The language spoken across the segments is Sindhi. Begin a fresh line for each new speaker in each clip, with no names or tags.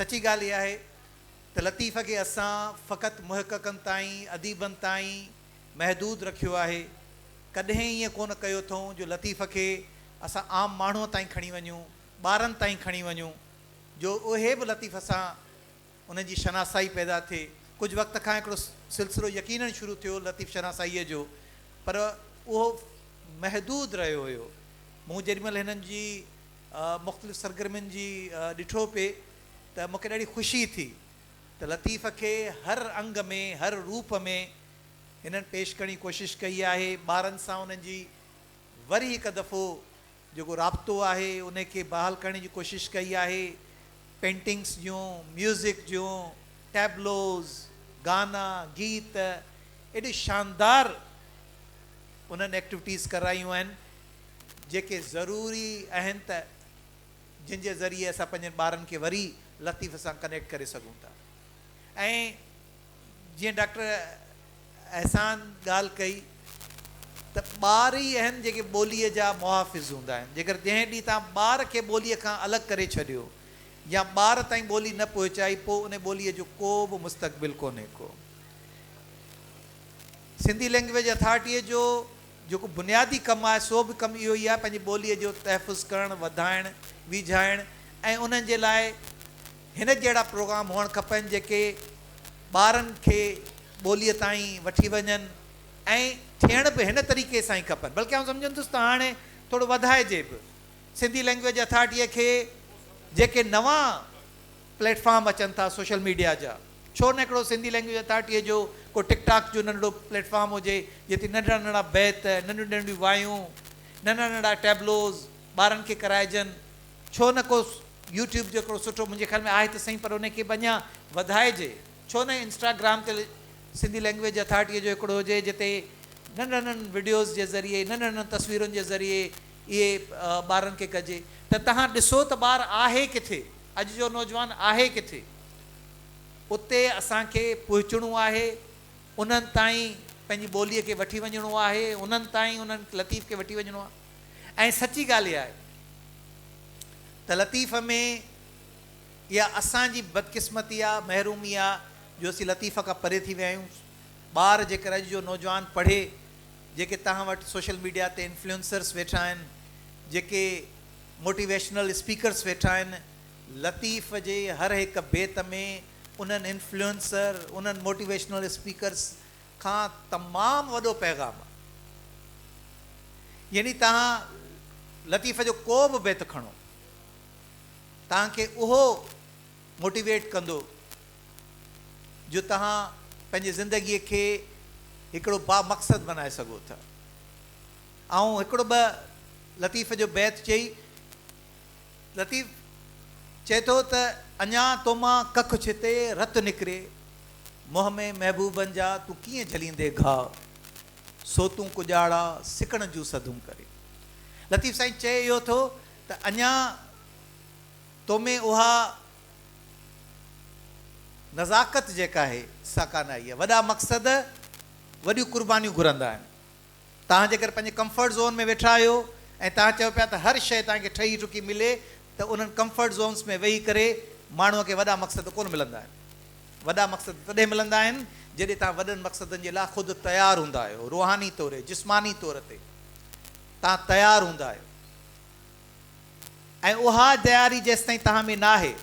سچي ڳالهه اها آهي ته لطيف کي اسان فقط محققن تائين، اديبن تائين محدود رکيو آهي. ڪڏهن ائين ڪونه ڪيو اٿئون جو لطيف کي اسان عام ماڻهوء تائين کڻي وڃون، ٻارن تائين کڻي وڃون جو اهي به لطيف سان انهن جي شناسائي پيدا ٿئي. ڪجهه وقت کان هڪڙو سلسلو يقينن شروع ٿيو لطيف شناسائيء جو، پر اهو محدود رهيو هيو. مون جيڏي مهل هنن جي مختلف سرگرمين جي ڏٺو پئي ته مون کي ڏاڍي خوشي ٿي ته لطيف کي هر انگ ۾ هر روپ ۾ هنن پيش ڪرڻ جي ڪوشش ڪئي آهي. ٻارن سان انهن جي وري هڪ دفعو. جيڪو رابطو آهي ان کي بحال ڪرڻ جي ڪوشش ڪئي آهي، پينٽنگس جون، ميوزڪ جون ٽيبلوز، گانا، گيت ايڏي شاندار انهن ايڪٽويٽيز ڪرايون آهن جيڪي ضروري اهن ته جن جي ذريعي اسان پنهنجن ٻارن کي وري لطيف سان ڪنيڪٽ ڪري سگهون ٿا ۽ جيئن ڊاڪٽر احسان ڳالهه ڪئي ته ٻار ئي اهن جيڪي ٻوليء جا محافظ هوندا آهن، جيڪر جنهن ڏينهن توهان ٻار کي ٻوليء کان الڳ ڪري ڇڏيو يا ٻار تائين ٻولي نه پهچائي پوء ان ٻوليء جو ڪو به مستقبل ڪونهي ڪو سنڌي لئنگويج اٿارٽيء جو جيڪو بنيادي ڪم آهي سو به ڪم اهو ئي آهي پنهنجي ٻوليء جو تحفظ ڪرڻ وڌائڻ ويجهائڻ ۽ انهن جي لاء هن جهڙا پروگرام هئڻ کپن جيڪي ٻارن کي ٻوليء تائين وٺي وڃن ۽ ٿيڻ به هن طريقي سان ئي کپن بلڪ آئون سمجهندس ته هاڻي ٿورو وڌائجي به سنڌي لئنگويج اٿارٽيء کي جيڪي نوان پليٽ فارم اچن ٿا سوشل ميڊيا جا ڇو نه هڪڙو سنڌي لئنگويج اٿارٽيء جو ڪو ٽڪ ٽاڪ جو ننڍڙو پليٽ فارم هجي جتي ننڍڙا ننڍڙا بيت ننڍيون ننڍيون وايون ننڍڙا ننڍڙا ٽيبلوز ٻارن کي ڪرائجن ڇو نه ڪو يوٽيوب جو هڪڙو سٺو منهنجي خيال ۾ آهي ته سهي پر انهي کي به اڃا وڌائجي ڇو نه انسٽاگرام تي سنڌي لينگويج اٿارٽيء جو هڪڙو هجي جتي ننڍن ننڍن وڊيوز جي ذريعي ننڍن ننڍن تصويرن جي ذريعي اهي ٻارن کي ڪجي ته توهان ڏسو ته ٻار آهي ڪٿي اڄ جو نوجوان آهي ڪٿي اتي اسان کي پهچڻو آهي انهن تائين پنهنجي ٻوليء کي وٺي وڃڻو آهي انهن تائين انهن لطيف کي وٺي وڃڻو آهي. ۽ سچي ڳالهه اها آهي ته لطيف ۾ اها اسان جي بدقسمتي آهي، محرومي آهي جو اسين لطيف کان پري ٿي ويا آهيون. ٻار جيڪر اڄ جو نوجوان پڙهي، جيڪي توهان وٽ سوشل ميڊيا تي انفلوئنسرز ويٺا آهن، جيڪي موٽيويشنل اسپيڪرز ويٺا آهن، لطيف جي هر هڪ بيت ۾ انهن انفلوئنسر، انهن موٽيويشنل اسپيڪرز کان تمام وڏو پيغام آ يعني توهان لطيف جو ڪو به بيت کڻو توهان کي اهو موٽيويٽ ڪندو جو توهان پنهنجي زندگي کي هڪڙو با مقصد بنائي سگهو ٿا آئون هڪڙو ٻه لطيف جو بيت چئي لطيف چئي ٿو ته اڃا تو مان ڪک ڇتي رت نڪري، منهن ۾ محبوبن جا تون ڪيئن جهليندي گهاء، سو تون ڪڄاڙا سڪڻ جون سڌون ڪري. لطيف سائين چئي اهو ٿو ته اڃا تو ۾ اها نزاڪت جيڪا آهي سا ڪانه آئي آهي. وڏا مقصد وڏيون قربانيون گهرندا آهن. توهان جيڪر پنهنجي ڪمفرٽ زون ۾ ويٺا آهيو ۽ توهان چئو پيا ته هر شيء توهان کي ٺهي ٺڪي ملي ته انهن ڪمفرٽ زونس ۾ ويهي ڪري ماڻهوء کي وڏا مقصد ڪونه ملندا آهن. وڏا مقصد تڏهن ملندا آهن جڏهن توهان وڏن مقصدن جي لاء خود تيار هوندا آهيو، روحاني طور، جسماني طور تي توهان تيار هوندا آهيو ۽ اها تياري جيستائين توهان ۾ ناهي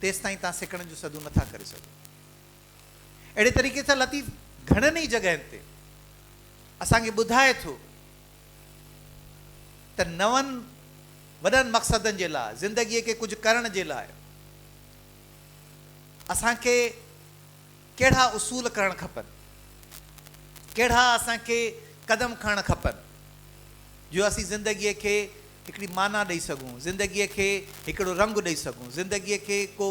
تيستائين توهان سکڻ جون سڌون نٿا ڪري سگهو. اهڙي طريقي سان لطيف گهڻن ئي جڳهين تي اسان کي ٻڌائي ٿو ته نون وڏن مقصدن جي لاء زندگيء کي ڪجهه ڪرڻ جي لاء اسان کي ڪهڙا اصول ڪرڻ کپن ڪهڙا اسان کي قدم کڻڻ کپن جو اسين زندگيء کي هڪڙي معنيٰ ڏئي سگهون زندگيء کي هڪڙو رنگ ڏئي سگهون زندگيء کي ڪو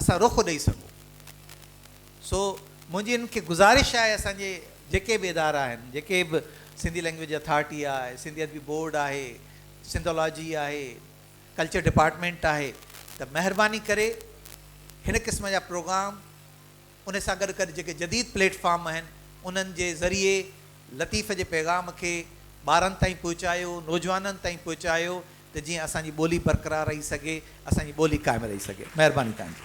اسان روخو ڏئي سگهون. سو منهنجي انهن کي گذارش آهي اسان جي جيڪي به ادارا آهن جيڪي به سنڌي لينگويج اٿارٽي آهي، سنڌي ادبي بورڊ آهي، سنڌولاجي آهي، ڪلچر ڊپارٽمينٽ آهي ته مهرباني ڪري هن قسم جا پروگرام ان سان گڏ گڏ جيڪي جديد پليٽ فارم آهن انهن جي ذريعي لطيف جي پيغام کي ٻارن تائين پهچايو، نوجوانن تائين پهچايو ته جيئن اسان جي ٻولي برقرار رهي سگهي، اسان جي ٻولي قائم رهي سگهي. مهرباني توهان جي.